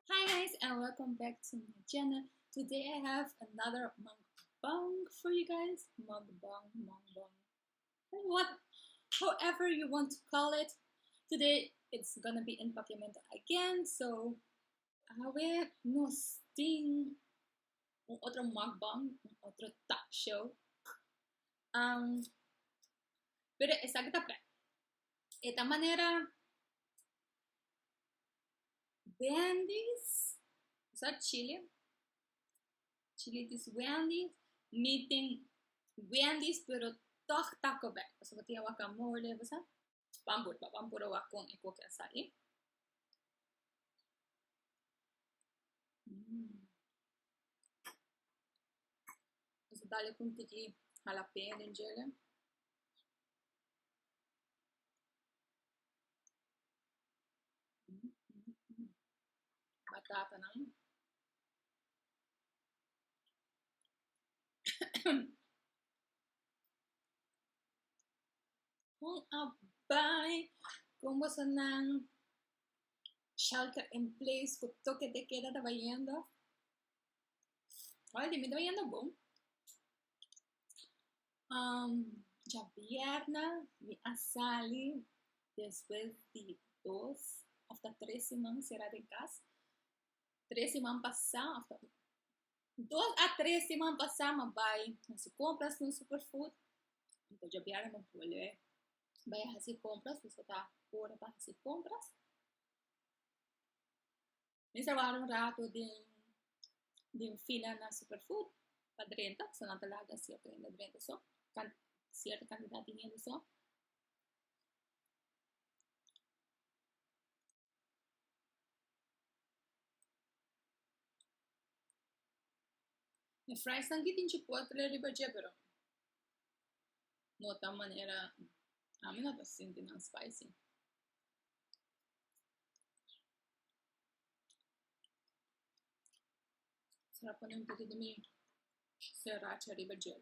Hi guys and welcome back to my channel today I have another mukbang for you guys mukbang mukbang what however you want to call it today it's gonna be in Papiamento again so awe nos tin un otro mukbang un otro talk show Pero esaki ta prea. E ta manera Wendy's, sa chile, chile dis Wendy's, mi tin Wendy's pero tòg Taco Bell, pasobra tin e wakamole, bo sa. Bambur, ba bambura wak kon e koke a sa i. Mm. Eso dale kun tiki jalapeño den djele. Mm, mm, mm. Batata nan. Bon a bai con boso nan shelter in place cu toque de keda ta bayendo oi dimi ta bayendo bon um dja bierna mi a sali despues di dos of ta tres siman sera den cas tres siman pasa Dos a tres siman pasá mi a bai na su compras na Superfood. Mi ta djobia mi a bolbe bai hasi compras, dus a ta ora pa hasi compras. Mi sa wak un rato den, den fila na Superfood pa drenta, pasobra nan ta laga cierto hende drenta so, can, cierto cantidad di hende so. E fries nan tin chipotle riba dje pero no ta manera ami no ta sinti nan spicy sra pone un poco di mi seracha riba djel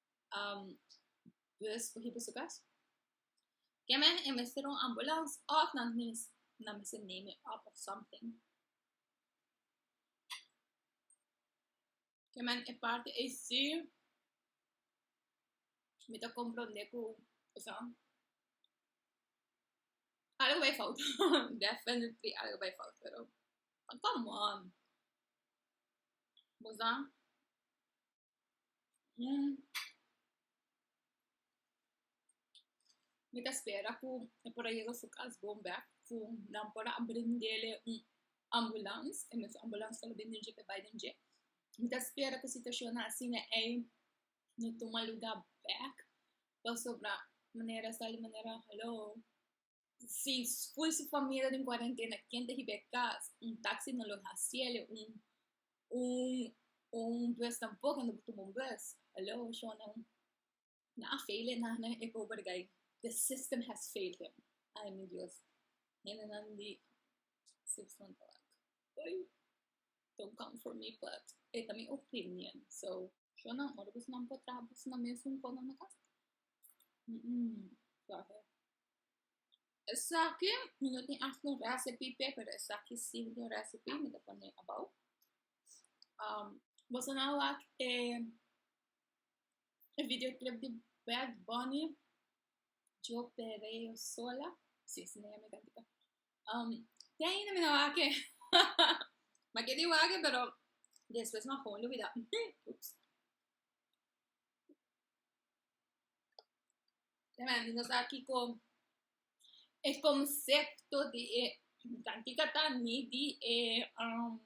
Um, pues, por ejemplo, su caso. Que men en vez de un ambulance, of na mis, na mis name it up of something. Que men en parte es sí, me te comprende que, o sea, algo bij fout. Definitely algo bij fout, pero come on. Moza, Mm. Mi ta spera ku e por a yega su kas bon bèk, ku nan por a brindele un ambulans, e mes ambulans ta lo bin den dje p'e bai den dje. Mi ta spera ku situashonnan asina ei no tuma luga bèk, pasobra manera sa di manera haló. Si full su famia ta den cuarentena, ken ta hiba e cas? Un taxi no lo haciele, un, un, un bus tampoco, no por tuma un bus. Hello, Shona. Na a fail e nahnan e pober guy. The system has failed him. Ay, mi Dios. Hendenan di system tabata. Oei. Don't come for me, but e ta mi opinion, so. Shona, ora bosonan por traha, bosonan mes un cono na cas? Mm-mm. Suave. Esaki mi no tin aht un recipe p'e pero esaki si mi tin un recipe mi ta pone abou boso nan a wak e video clip di bad bunny yo perreo sola si si nan yami kantika te ainda mi no a wak e ma ke di wak pero despues mi a komo olbida ups. Tremendo, nos ta aki con e concepto di e, cantica ta ni di e, um,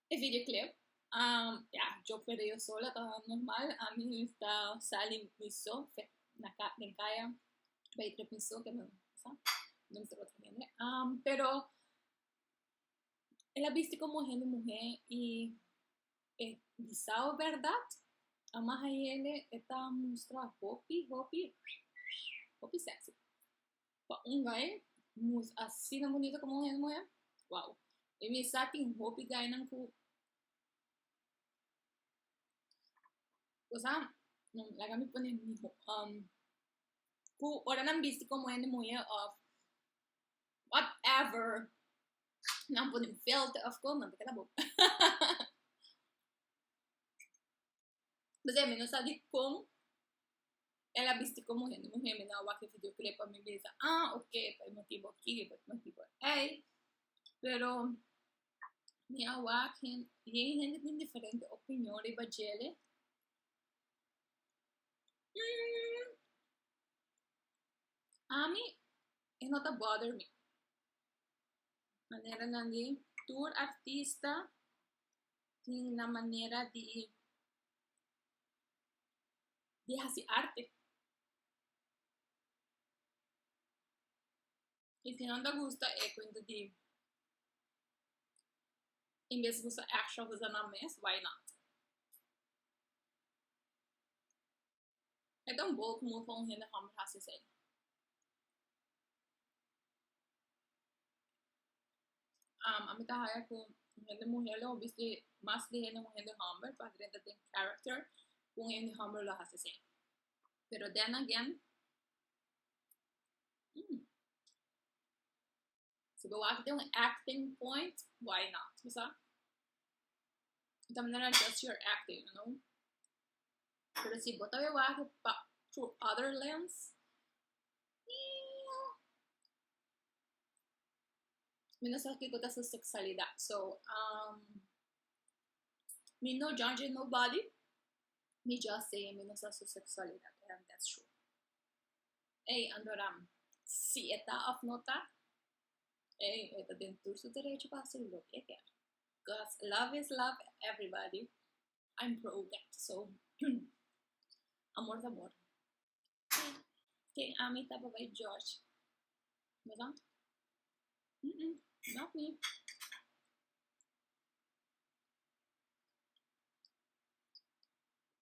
e videoclip. Um, ja, yo per yo sola ta normal, a mi ta sali mi so, fe, na ka, den kaya, bay trep mi so, ke mi sa, mi ta word tremendo. Um, pero, el a bisti como hende muhe, y E bisao bèrdat? Amahayele e ta mustra hopi, hopi, hopi sèksi. Pa un gai mus asina bunito komo un hende muhé, wou. E mi sa tin hopi gainan ku kosa laga mi pone miho ku ora nan bisti komo hende muhé òf whatever Nan pone un filter of course, nan ta keda bon. Besey mi no sa di kon el a bisti como hende muher, mi na wak e videoclip pa mi bisa, ah ok, pa e motibo aki, pa e motibo ey. Pero mi a wak hen, yen hende tin diferente opinion riba djele. Ami e no ta bother mi. Maneranan di, tur artista tin nan manera di di hasi arte. I si nan ta gusta e kuento di en bes di kusa èkstra kusanan mes, why not? E ta un poco comun pa un hende homber haci esey. Um, ami ta haya cu un hende muher lo bis di mas di hende un hende homber, pader e ta den character cu un hende homber lo haci esey. Pero then again, mm, Si bo wak den un acting point, why not, you sa? Ita manera na just your acting, you know? Pero si bo ta bai wak pa through other lens, mi no sa kiko ta su sexualidad. So, um, mi no judge nobody, mi just say mi no sa su sexualidad, and that's true. Ey, Andoram, si e ta òf no ta, ey, e ta den tur su derecho pa hasi loke e kier. Cos love is love, everybody, I'm pro that, so, amor ta amor. Si, ken ami ta papá di George? Mi ta, umm-umm, not me.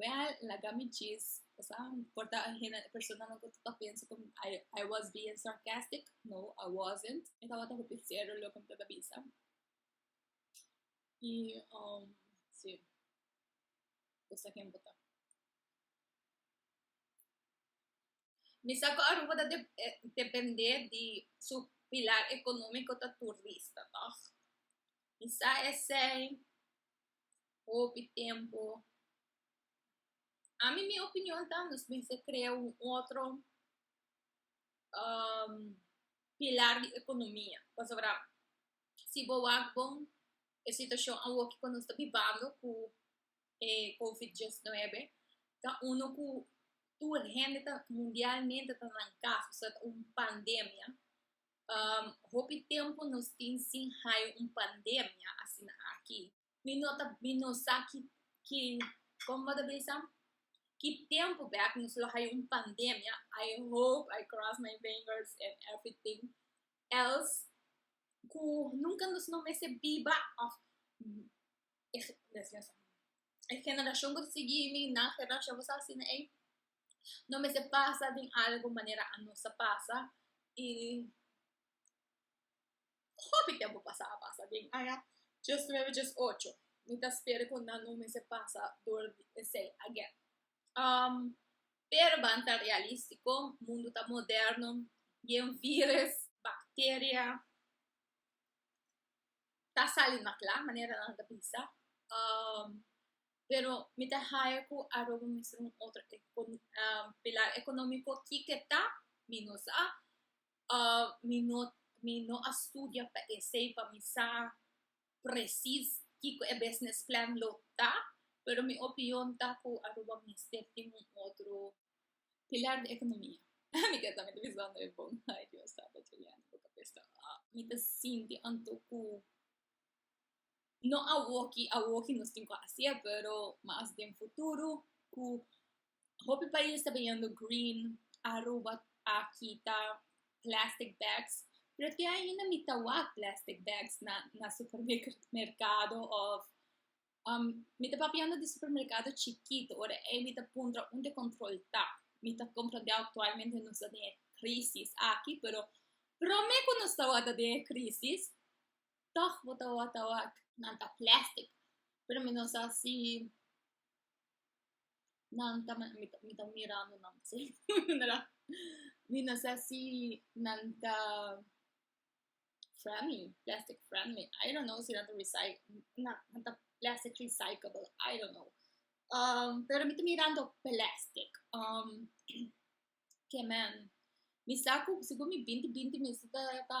Well, laga mi djis, pasaban por ta hende, personanan ku ta pensa ku I, I was being sarcastic. No, I wasn't. E tabata hopi serio lo ku mi tabata bisa. I, um, sí, esa ken bo ta. Mi sa ku Aruba ta de- eh, dependé di su pilar ekonómiko ta turista, tòg? Mi sa esei, Hopi tempu, ami mi opinion ta nos mester krea un otro pilar di ekonomia, pasobra si bo wak bon e situashon awoki ku nos ta bibando ku e kovit diesnuebe ta unu ku tur hende ta mundialmente ta nan kas pasobra ta un pandemia, hopi tempu nos tin sin hayo un pandemia asina aki. mi no ta mi no sa ki ki kon bo ta bisa ki tempo bek nos lo hayo un pandemia I hope I cross my fingers and everything else ku nunca nos no mester biba of e generashon ku ta sigui mi nan generashon bo sa asina ey no mester pasa den algo manera anos a pasa y Hopi tempu pasa a pasa den aya djes nuebe djes ocho mi ta spera ku nan no mester pasa dor di esei agen pero ban ta realistiko mundu ta moderno bien virus bacteria ta sali mas kla manera nan ta bisa pero mi ta haña ku Aruba mester un otro pilar economico kiko ta mi no sa mi no mi no a studia pa esei pa mi sa presis kiko e business plan lo ta pero mi opinion ta ku Aruba mester tin un otro pilar di ekonomia mi ke ta mete bisa hopi bon ay Dios tata juliano bo ta pesta mi ta sinti anto ku no awoki awoki nos tin ku hasié pero mas den futuro ku Hopi pais ta biniendo green, Aruba aki ta plastic bags, pero te ainda mi ta wak plastic bags na na supermercado of mi ta papiando di supermercado chikito ora ei mi ta puntra unde control ta. Mi ta comprende actualmente nos ta den e crisis aki, pero prome cu nos ta wak ta den e crisis tog bo ta wak ta wak nan ta plastic, pero mi no sa si nan ta mi ta mirando nan si mi na sa si nan ta friendly plastic friendly I don't know si nan ta recy nan ta plastic recyclable I don't know um pero mi ta mirando plastic um ke men mi sa ku segun mi binti binti mi si ta ta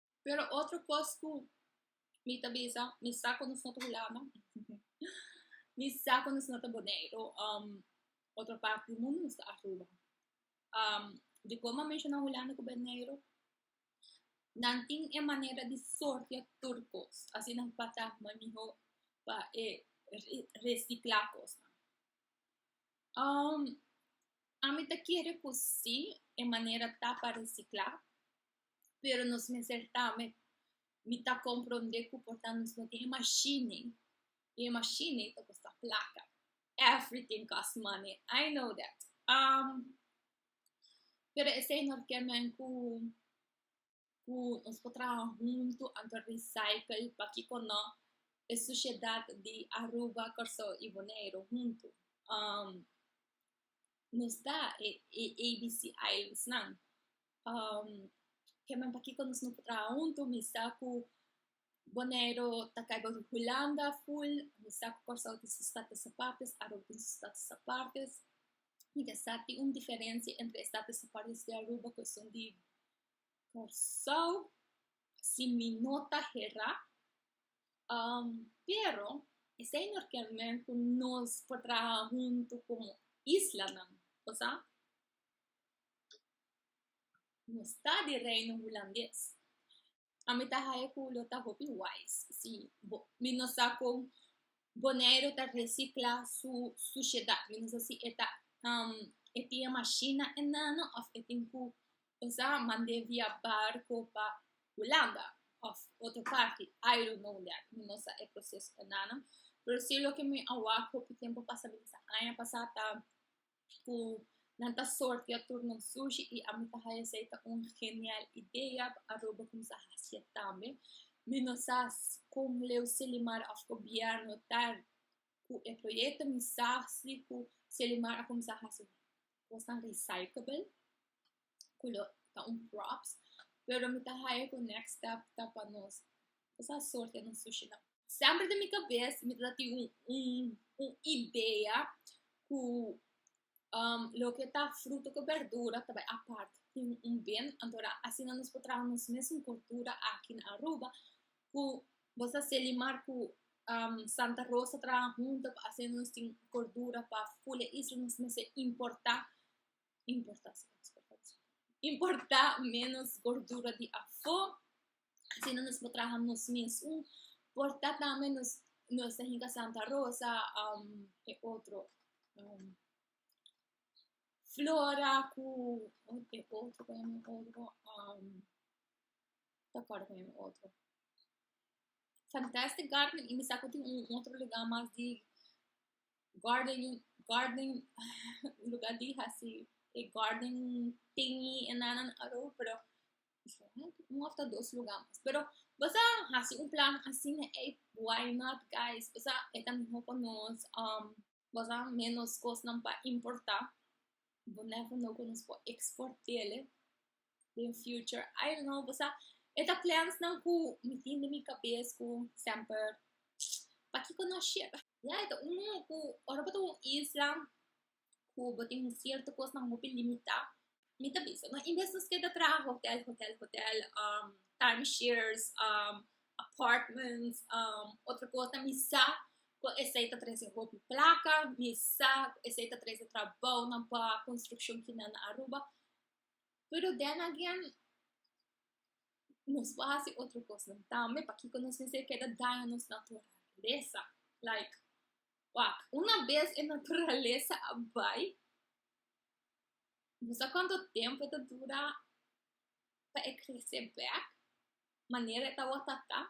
Pero otro cos cu mi ta bisa, mi sa cu nos no ta Hulanda, mi sa cu nos no ta Boneiru, um, otro parti di mundo nos ta Aruba. Um, di como a menciona Hulanda cu Boneiru, nan tin e manera di sortia tur cos, asina nan bata mooi miho pa e recicla cosnan. Um, ami ta kere cu si, e manera ta pa recicla, pero nos mester tambe mi ta compronde cu por ta nos no tin e machine, y e machine ta custa placa, everything cost money, I know that, um, pero e señor kier men cu, cu nos por traha hunto anto recycle, pakico no, e sociedad di Aruba, Corsou y Boneiru hunto, um, nos ta e ABC islands nan, um, ke men pakiko nos no traha huntu, mi sa ku Boneiru ta kai boso Hulanda full, mi sa ku Kòrsou tin su status apartes, Aruba tin su status apartes, mi ta sa tin un diferensia entre e status apartes di Aruba ku esun di Kòrsou, si mi no ta hera, um, pero esei no ken men ku nos por traha huntu komo islanan, bo sa? No sta di reino hulandes. A mi ta hae ku lo ta hopi wise si bo mi no sa kon Boneiru ta resicla su suciedad. Mi no sa si e ta e tin e mashina enano of e tin ku e sa mand'é via barco pa Hulanda of otro parti. I don't know that. Mi no sa e proceso enano. Pero si loke mi a wak hopi tempu pasa, mi ta sa aña pasa ta ku nan ta sortea tur nan sushi i ami ta haña esei ta un genial idea aroba kumsa hasié tambe mi no sa kon leu selimar òf gobièrnu ta ku e proyekto mi sa si ku selimar a kumsa hasi kosnan risaiklabel. cu lo ta un props pero mi ta haya cu next step ta pa nos sa sorti e nos sushi nan semper den mi cabes mi ta tin un un un idea cu um loke ta fruta cu berdura ta bai apart tin un bin antora asina nos por traha nos mesun cultura aki na Aruba cu bo sa se limar cu um Santa Rosa traha hunto pa asina nos tin cordura pa full e isla nos mester importa importa menos gordura di afo asina nos por traha nos mes un por ta tambe nos nos ta hinka santa rosa ke otro flora ku ke otro ku mi otro no takuerdo ku mi otro fantastic garden y mi sa ku tin un otro lugar mas di garden garden un lugar di hasi e garden tingi e nana aru pero un of ta dos lugar mas pero bosa hasi un plan asina ei why not guys bosa e ta miho pa nos bosa menos cosnan pa importa bo nèt a know ku nos por export'e den future I don't know bosa e ta plans nan ku mi tin den mi kabes ku semper pakiko no shek ya e ta uno ku ora bo ta un isla ku bo tin un sierto kosnan hopi limitá mi ta bisa no en vez nos keda traha hotel hotel hotel time shares apartments otro kosnan mi sa ku esei ta trese hopi plaka mi sa ku esei ta trese trabounan pa construccion final na Aruba Pero den again, nos por hasi otro cosnan tambe, pakiko nos mester keda daña nos naturalesa? Like, wak, una bes e naturalesa a bai, no sa cuanto tempo e ta dura pa e crece bek manera e tabata ta ta,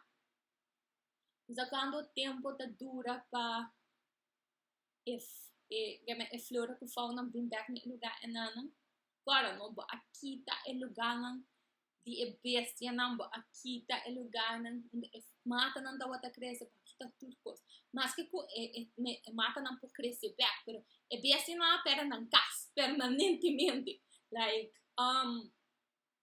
no sa cuanto tempo ta dura pa e flor ku fau nan bin bèk na e lugá enannan kòrda no bo a kita e lugánan di e bestianan bo a kita e lugánan unda e matanan tabata krese bo a kita tur kos maske ku e e matanan por krese bèk pero e bestianan a pèrdè nan kas pèrmanentemente like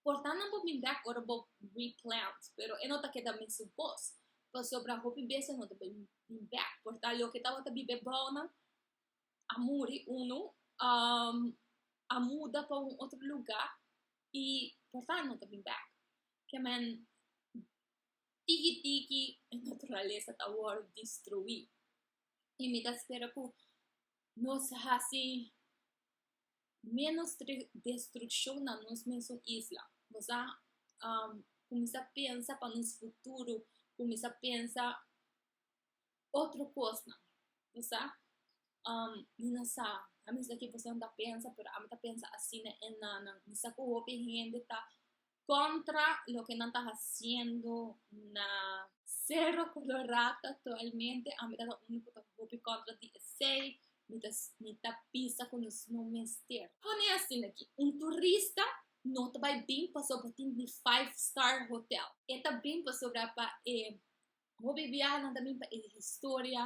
Portannan bo min bek ora bo replant, pero e no ta keda mesun kos, pasobra hopi bes e no ta bin bin bek. Por tal loke tabata bibe bounan a muri, unu a muda pa un otro luga i por tal no ta bin bek. Ke men tiki tiki e naturalesa ta wòrdu destruí, i mi ta spera ku nos hasi Ménos destrukshon na nos mesun isla. Nos a kuminsá pensa pa nos futuro, kuminsá pensa otro kosnan, bo sa. Mi no sa, a mesta ke boso nan ta pensa, pero ami ta pensa asina e nanan. Mi sa ku hopi hende ta contra loke nan ta haciendo na Cerro Colorado actualmente ami ta ta unu ku ta hopi kontra di esei mi ta mi ta bisa ku nos no mester pone asin aki un turista no ta bai bin pasobra bo tin di five star hotel e ta bin pasobra pa e hopi biahanan ta bin pa e historia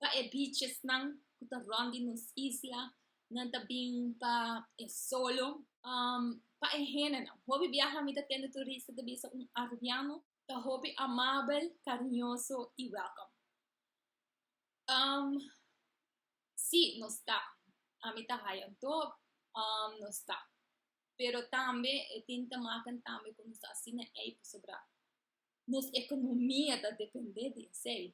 pa e bichesnan ku ta rònt di nos isla nan ta bin pa e solo pa e hendenan hopi biaha mi ta tende turista ta bisa un arubiano ta hopi amabel kariñoso i wèlkòm si nos ta ami ta haya anto nos ta pero tambe e tin ta maknan tambe ku nos ta asina ei pasobra nos ekonomia ta depende di esei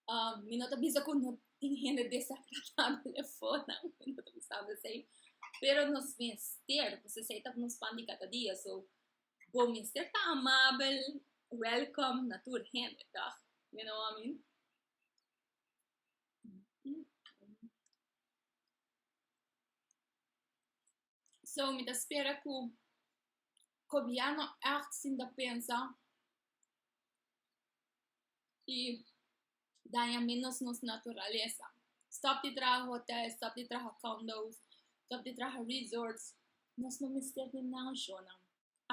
Um, mi no ta bisa ku no tin hende desagradabel afuera, mi no ta pensando esei, pero nos mester, pues esei ta nos pan di kada dia, so bo mester ta amabel, welcome na tur hende, tòg? You know what I mean? So mi ta spera ku gobièrnu ègt sin ta pensa i daña ménos nos naturalesa. Stòp di traha hotèl, stòp di traha kòndo's, stòp di traha resòrts, nos no mester tin nan shònan.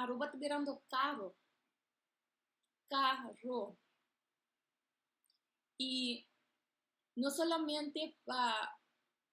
Aruba ta birando karo, karo, i no solamente pa